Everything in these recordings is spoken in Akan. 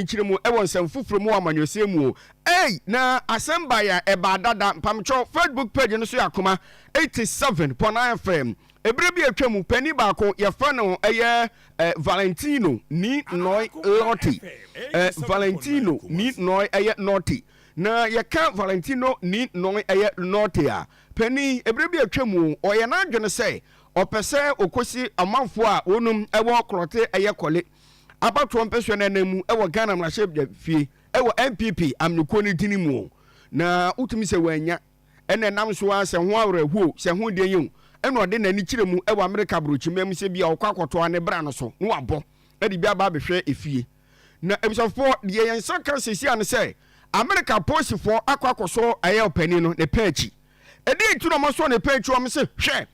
nkyeremu wɔ nsɛm foforɔ mu wɔ amanyɔsɛm mu o. Ei na asɛm bae a ɛbaa dada mpamokyɛw Facebook page no so yɛ akoma 87 pɔ na ɛfɛ ɛberɛ bi a atwa mu panin baako yɛfrɛ no ɛyɛ Valentino ni noi Lotti ɛ Valentino ni noi ɛyɛ Lotti na yɛka Valentino ni noi ɛyɛ Lotti a panin ɛberɛ bi atwa mu ɔyɛ n'adwene sɛ ɔpɛ sɛ ɔkɔsi amanfoɔ a wɔnom ɛwɔ korɔte ɛyɛ kɔle Abatoɔ mpɛsoa no anan mu wɔ Ghana mmarahyɛbadwafie wɔ NPP amanyɔkuo no dini mu o, na wotumi sɛ wannya na ɛnam so ara sɛ ho awerɛhoɔ o, sɛ ho den o, na ɔde n'ani kyerɛ mu wɔ Amerika aborɔkyimma mu sɛ bia ɔkɔ akɔtoa ne bra no so na wabɔ de bi aba abɛhwɛ efie. Na abusuafoɔ, deɛ yɛn nsa ka seesei ara ne sɛ Amerika apolisifoɔ akɔ akɔsɔ ɛyɛ ɔpanin no ne paa akyi. Ɛdeɛn nti na wɔasɔ ne paa akyi? Wɔse, hwɛ,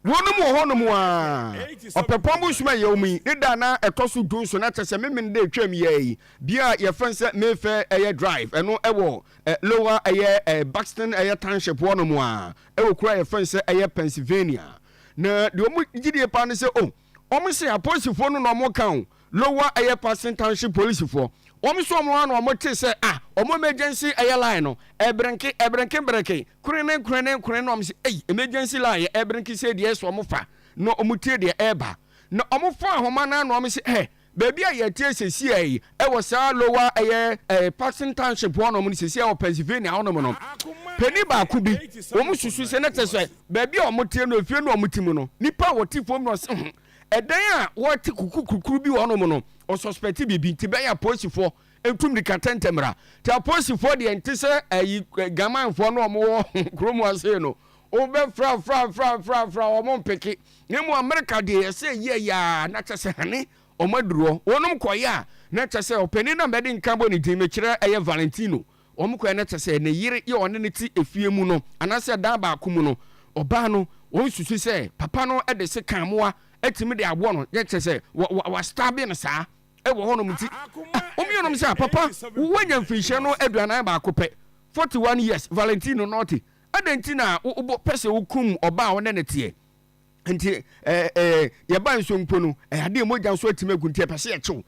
Wɔnom wɔ hɔnom aa. Ɔpɛpɔn bosoom a yɛwɔ mu yi, ne da a na ɛtɔ so du nson, na kyerɛ sɛ Memeneda a ɛtwaam yi ara yi, bea a yɛfrɛ no sɛ Mayfair ɛyɛ Drive, ɛno wɔ Lower ɛyɛ Buxton ɛyɛ Township hɔnom aa, ɛwɔ kuro a yɛfrɛ no sɛ ɛyɛ Pennsylvania. Na deɛ wɔn gyidie paa ne sɛ, oh, Wɔn se apolisifoɔ no na wɔn ka o, lower ɛyɛ Patson township polisifoɔ, wɔn nso wɔn a na wɔn te sɛ ah wɔn emergency ɛyɛ line no ɛbrenke ɛbrenke breke krene krene krene na wɔn se ei emergency line yɛ ɛbrenke sei deɛ ɛsɛ wɔn fa na wɔn tie deɛ ɛɛba na wɔn fɔ ahoma no a na wɔn se hɛ Baabi a yɛte sesia yi, ɛwɔ saa Lower ɛyɛ ɛɛ Paxton Township hɔ nom no sesia wɔ Pennsylvania hɔ nom no, panin baako bi, wɔn susu sɛ na kyɛ sɛ baabi a wɔn te no, efie no a wɔn te mu no, nipa a wɔte fam no ɔse ho, ɛdan a wɔte kuku kurukuru bi wɔ hɔ nom no, ɔsɔspɛte biribi, nti bɛyɛ apolisifoɔ ntu mirika tɛntɛ mmra, nti apolisifoɔ deɛ nte sɛ ɛyi gamanfoɔ no wɔn wɔ kurom ase no, wɔn bɛ fra fra fra fra fra wɔn mpeke, Na mmom Amerika deɛ ɛsɛ ɛyi ɛyɛ aa na kyɛ sɛ hane ɔmo aduru hɔ wɔnom kɔeɛ a na kyɛ sɛ ɔpanin na mɛde nka bɔ ne din mekyerɛ ɛyɛ Valentino wɔn kɔeɛ na kyɛ sɛ ne yere yɛ ɔne no te efie mu no anaasɛ dan baako mu no ɔbaa no wɔn susu sɛ papa no de sekan moa atumi de awɔ no na kyɛ sɛ wa wa wa stabe no saa ɛwɔ hɔ nom nti wɔn mmienum sɛ papa wanya mfinhyia no aduanan baako pɛ 41 years Valentino Norte Adɛn nti na wopɛ sɛ wokum ɔbaa a wo ne no teɛ? Nti yɛba nso mpo no, ɛyɛ adeɛ mogya nso atumi agu nti yɛpɛ sɛ yɛkye wo.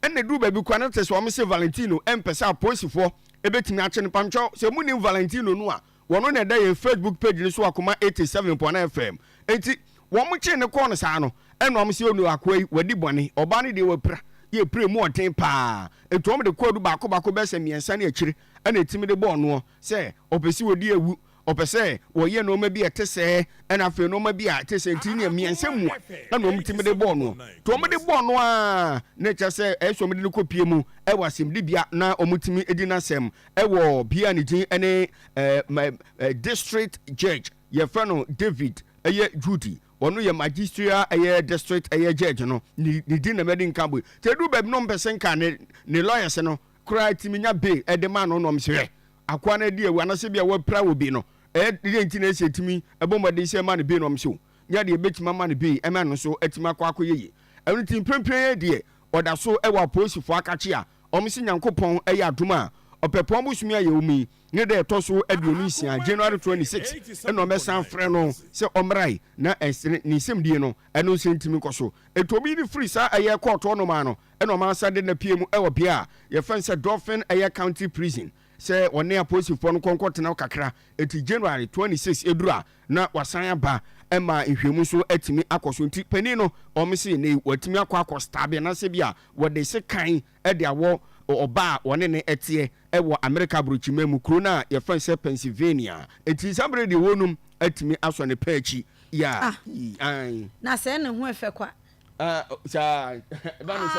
Ɛna ɛduru baabi koraa na te sɛ wɔn se Valentino mpɛ sɛ apolisifoɔ bɛtumi akye no. Mpametwɛ, sɛ monim Valentino no a, wɔno na ɛda yɛn Facebook page no so Akoma 87.9 FM. Nti wɔkyee no kɔɔ no saa no, ɛna wɔn se onoo akoa yi wadi bɔne, ɔbaa no deɛ wapira, yɛpira mu ɔden paa. Nti wɔn de kɔɔ du baako baako bɛyɛ sɛ mmiɛnsa ne akyire ɛna ɛtumi de bɔɔ noɔ. sɛ ɔpɛ sɛ ɔdi awu, ɔpɛ sɛ ɔyɛ nnoɔma bi a ɛte sɛɛ, ɛna afei nnoɔma bi a ɛte sɛɛ nti neɛ mmiɛnsa mu a ɛna wɔn tumi de bɔɔ noɔ, nti wɔn de bɔɔ no a na ɛkyɛ sɛ ɛyɛ sɛ wɔn de no kɔ pie mu ɛwɔ asɛmdi bea na wɔn tumi di n'asɛm ɛwɔ bea a ne din ɛne ɛɛ district judge yɛfrɛ no David ɛyɛ Judy ɔno yɛ magisterial ɛyɛ district ɛyɛ judge no ne din na mɛde nka bɔ yi, nti ɛduru baabi na wɔn pɛ sɛ nka ne ne lawyers no koraa tumi nya bi de ma no nom. Sɛ akoa no adi awu anaasɛ ebia wɔapira obi no, dɛn nti na ɛsɛ tumi bɔ mmɔden sɛ ɛma no bi nom? So nya deɛ ɛbɛtumi ama no bi ma ɛno nso atumi akɔ akɔyɛ yie? Ɛno nti, mprempren yei deɛ, wɔda so wɔ apolisifoɔ akakye a wɔse Nyankopɔn yɛ adom a ɔpɛpɔn bosome a yɛwɔ mu yi ne da ɛtɔ so aduonu nsia, January twenty six, na wɔbɛsan afrɛ no sɛ ɔmmra yi na ɛnsene ne nsɛmdie no ɛno nso ntumi nkɔ so. Enti obi de firi saa ɛyɛ kɔɔto hɔ nom a no Ɛna ɔma san de no pie mu ɛwɔ bea a yɛfrɛ no sɛ Dauphin ɛyɛ county prison sɛ ɔne apolisifoɔ no kɔ nkɔ tena hɔ kakra nti January 26 ɛduru a na wasan aba ɛma nhwɛmu nso atumi akɔ so nti panin no wɔn se nnɛ yi watumi akɔ akɔ stabe anaasɛ bi a wɔde sekan ɛde awɔ ɔbaa a wɔne ne ɛteɛ ɛwɔ Amerika aburokyiman mu kuro no a yɛfrɛ no sɛ Pennsylvania nti saa berɛ deɛ wɔnom atumi asɔ ne pɛ akyi yeah Ah! Ae. Na sɛɛ ne ho ɛfɛ kwa. Ah, saa. Ɛba ne sɛ.